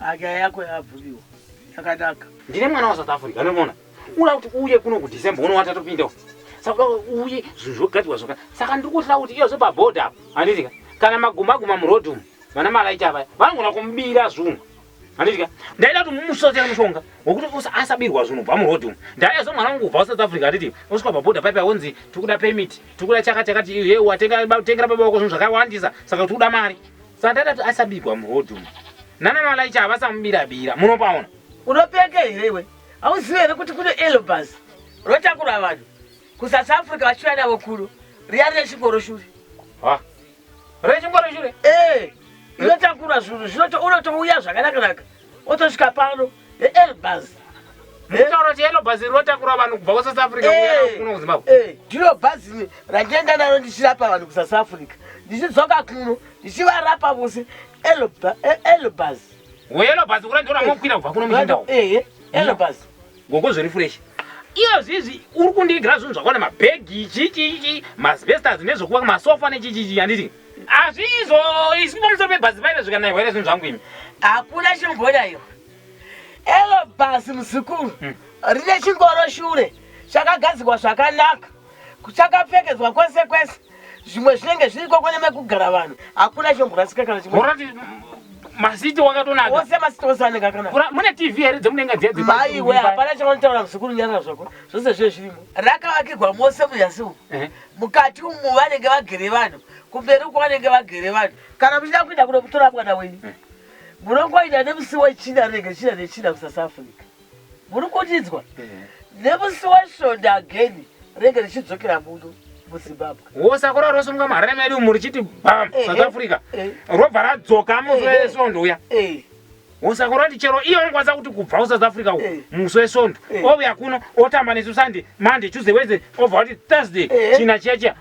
Aka yako yabvuliwa yakadaka. Ndine mwana wa South Africa unomona. Ula kuti uye kuno ku December uno watatopinda uko. Saka uye zvinhu zvogadzirwa zvoka. Saka ndiri kuhla kuti iyo zopa border apo. Anditi kana maguma guma mu road umu. Vana malaita vaya vanogona kumubira zvunhu. Andidya. Ndaida kuti mumusotera mushonga wekuti usa asabirwa zvinhu bva muroad umu. Ndaida zo mwana wangu kubva South Africa atiti uswa paboda pipe awonzi tikuda permit, tikuda chaka chakati iye watenga tengera baba wako zvinhu zvakawandisa saka kuti uda mari. Saka ndaida kuti asabirwa muroad umu. Nana malaicha avasamubira bira. Munopaona. Unopeka here iwe? Auziwe here kuti kune elobas rotakura vanhu ku South Africa vachiuya navo kuno riya rine chingoro shuri. Ha. rechingoro chure eh inotakura zvinhu zvinoto unotouya zvakanaka naka otosvika pano neelbas mitauro chiyelo bhazi rinotakura vanhu kubva kusouth africa eh, kuno kuzimbabwe eh, ndiro bhazi randienda naro ndichirapa vanhu kusouth africa ndichidzoka kuno ndichivarapa vose elbas eh, weyelo bhazi kura ndiona mokwira kubva kuno muchindawo elbas Gogo zviri fresh. Iyo zvizi uri kundiigira zvinhu zvakwana mabhegi chii chii chii masbestas nezvekuva masofa nechii chii chii handiti hazviizvo isi pamusoro pebhazi paive zvikanaiwa here zvinhu zvangu imi hakuna chimbonaiwa elo bhazi muzukuru rine chingoro shure chakagadzirwa zvakanaka kuchakapfekedzwa kwese kwese zvimwe zvinenge zviriko kune mekugara vanhu hakuna chomborasika kana chimwe masiti wakatonaka ose masiti ose anenge akanaka mune tv here dzemudenga dziya dzepa maiwe hapana chavanotaura muzukuru nyarara zvako zvose zviye zvirimo rakavakirwa mose munyasi umu mukati umu vanenge vagere vanhu kumberi uko vanenge vagere vanhu kana muchida kuenda kuno kutora mwana wenyu munongoita nemusi wechina rege china nechina kusasouth africa muri kundidzwa nemusi wesvondo ageni renge richidzokera muno muzimbabwe wosakura rosunga mahara medu muri chiti bam eh, south eh, africa eh. robva radzoka musi wesvondo uya wosakura kuti chero iyo anokwanisa kuti kubva kusouth africa uko musi wesvondo ouya kuno otamba nesu sunday monday tuesday wednesday obva kuti thursday china chiya chiya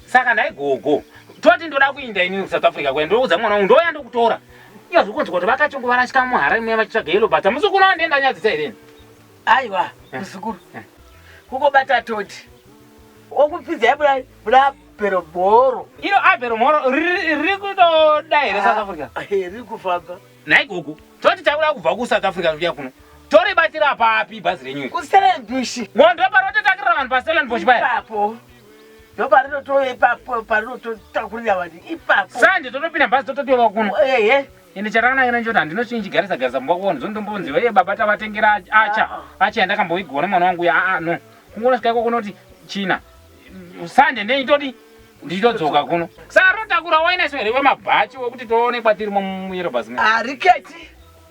saka ndaigogo toti ndoda kuinda ini kusouth africa kuya ndoudza mwana wangu ndouya ndokutora Iya zvokonzwa kuti vakachongo varashika muhara imwe vachitsvaga yellow bata. Muzukuru wavo ndiye ndanyadzisa here? Aiwa, eh. muzukuru. Eh. Kuko bata toti. Okupfidza yabula bula pero boro. Ino abero moro riri kutoda here South ah, Africa? Eh, riri kufamba. Nhai gogo, toti takuda kubva ku South Africa zviya kuno. Tori batira papi bhazi renyu? Ku Stellenbosch. Ngondo parototakira vanhu pa Stellenbosch paya. Ipapo. ndoparinotove ipapo parinototakurira vanhu ipapo sanje totopinda bhazi tototova kuno ehe ende chatakananga nacho kuti handino chinyi chigarisa garisa mumba kuona zvondombonzi vaiye baba tavatengera acha acha yandakamboigona mwana wangu uya aa no kungoona sikaiko kunoti china sanje nei todi ndichitodzoka kuno saka rotakura wainaiso here wemabhachi wekuti toonekwa tirimo muyero bhazi hariketi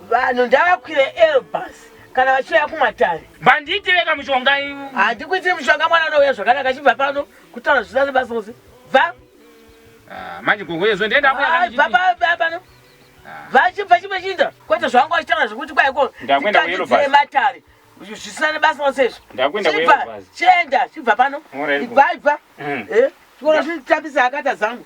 Vanhu ndavakwire Elbus kana vachiuya kumatare. Vandiitire kamushonga. Handikuitiri mushonga mwana unouya zvakanaka chibva pano kutaura zvina nebasa rose. Bva. Ah, manje gogo yezvo ndiye ndakuya kana chiti. Baba baba pano. Ah. Vachibva chimwe chinda kwete zvangu achitaura zvekuti kwa iko. Ndakwenda kuElbus. Ndikati matare. Zvisina nebasa rose izvo. Ndakwenda kuElbus. Chenda chibva pano. Ibva ibva. Mm. Eh. Chikora zvitambisa akata zangu.